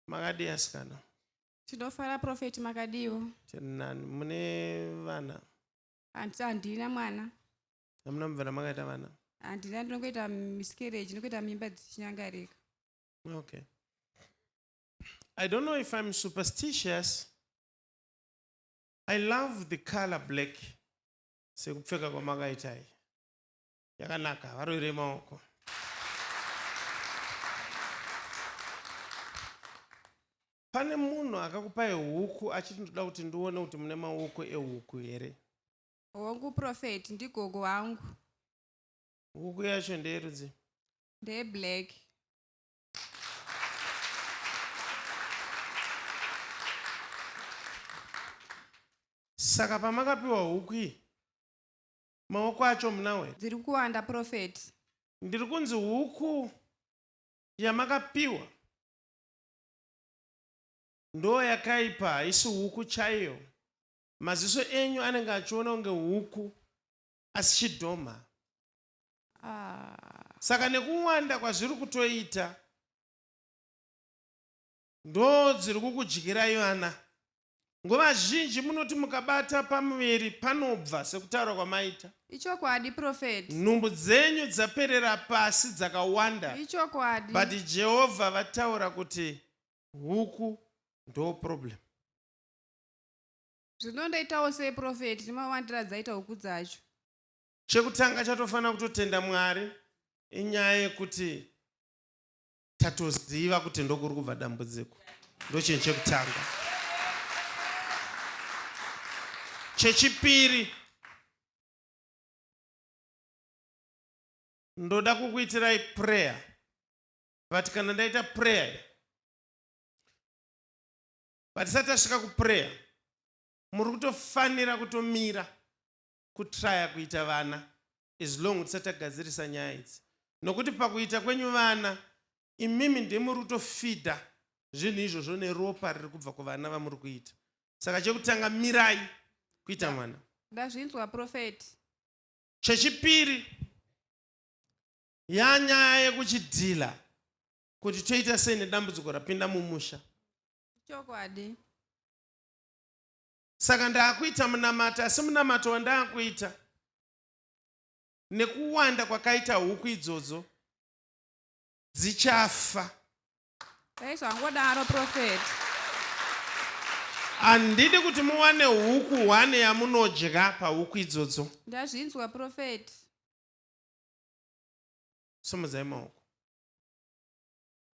makadii asikana tinofara profeti makadiiwo tirinani mune vana hanti handina mwana hamuna mubvana makaita vana handina ndinongoita miscarriage ndinongoita mimba dzichinyangarika okay i don't know if i'm superstitious i love the color black sekupfeka kwamakaitai yakanaka varoire maoko pane munhu akakupai huku achiti ndoda kuti ndione kuti mune maoko ehuku here hongu profet ndigogo wangu huku yacho ndeyerudzi ndeyeblack saka pamakapiwa huku iyi Maoko acho mna we. Dziri kuwanda prophet. Ndiri kunzi huku yamakapiwa ndoo yakaipa haisi huku chaiyo. Maziso enyu anenge achiona kunge huku asi chidhoma. Ah. Saka nekuwanda kwazviri kutoita ndoo dziri kukudyirai vana. Nguva zhinji munoti mukabata pamuviri panobva sekutaura kwamaita. Ichokwadi prophet. Nhumbu dzenyu dzaperera pasi dzakawanda. Ichokwadi. But Jehovah vataura kuti huku ndo problem. Zvino ndaitawo sei prophet ndimawandira dzaita huku dzacho. Chekutanga chatofanira kutotenda Mwari inyaya yekuti tatoziva kuti ndokuri kubva dambudziko ndochinhu chekutanga chechipiri ndoda kukuitirai prayer but kana ndaita prayer patisati tasvika kuprayer muri kutofanira kutomira kutraya kuita vana as long tisati tagadzirisa nyaya idzi nokuti pakuita kwenyu vana imimi ndimuri kutofidha zvinhu izvozvo neropa riri kubva kuvana vamuri kuita saka chekutanga mirai kuita mwana ndazvinzwa profeti chechipiri yanyaya yekuchidhila kuti toita sei nedambudziko rapinda mumusha chokwadi saka ndaakuita munamato asi munamato wandaakuita nekuwanda kwakaita huku idzodzo dzichafa dai zvangodaro profet handidi kuti muwane huku hwane yamunodya pahuku idzodzo ndazvinzwa profet simudzai maoko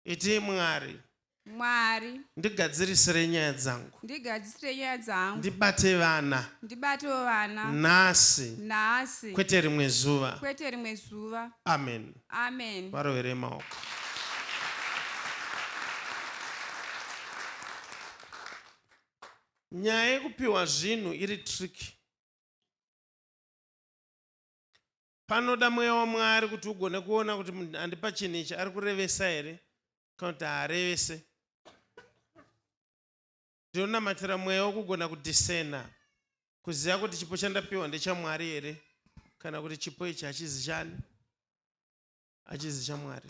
itii mwari mwari ndigadzirisire nyaya dzangu ndigadzirisire nyaya dzangu ndibate vana ndibatewo vana nhasi nhasi kwete rimwe zuva kwete rimwe zuva amen amen varovere maoko nyaya yekupiwa zvinhu iri tricky Panoda mweya waMwari kuti ugone kuona kuti munhu andipa chinhu ichi ari kurevesa here kana kuti haarevese. Ndinonamatira mweya wokugona kudhisena, kuziva kuti chipo chandapiwa ndechaMwari here kana kuti chipo ichi hachizi chani, hachizi chaMwari.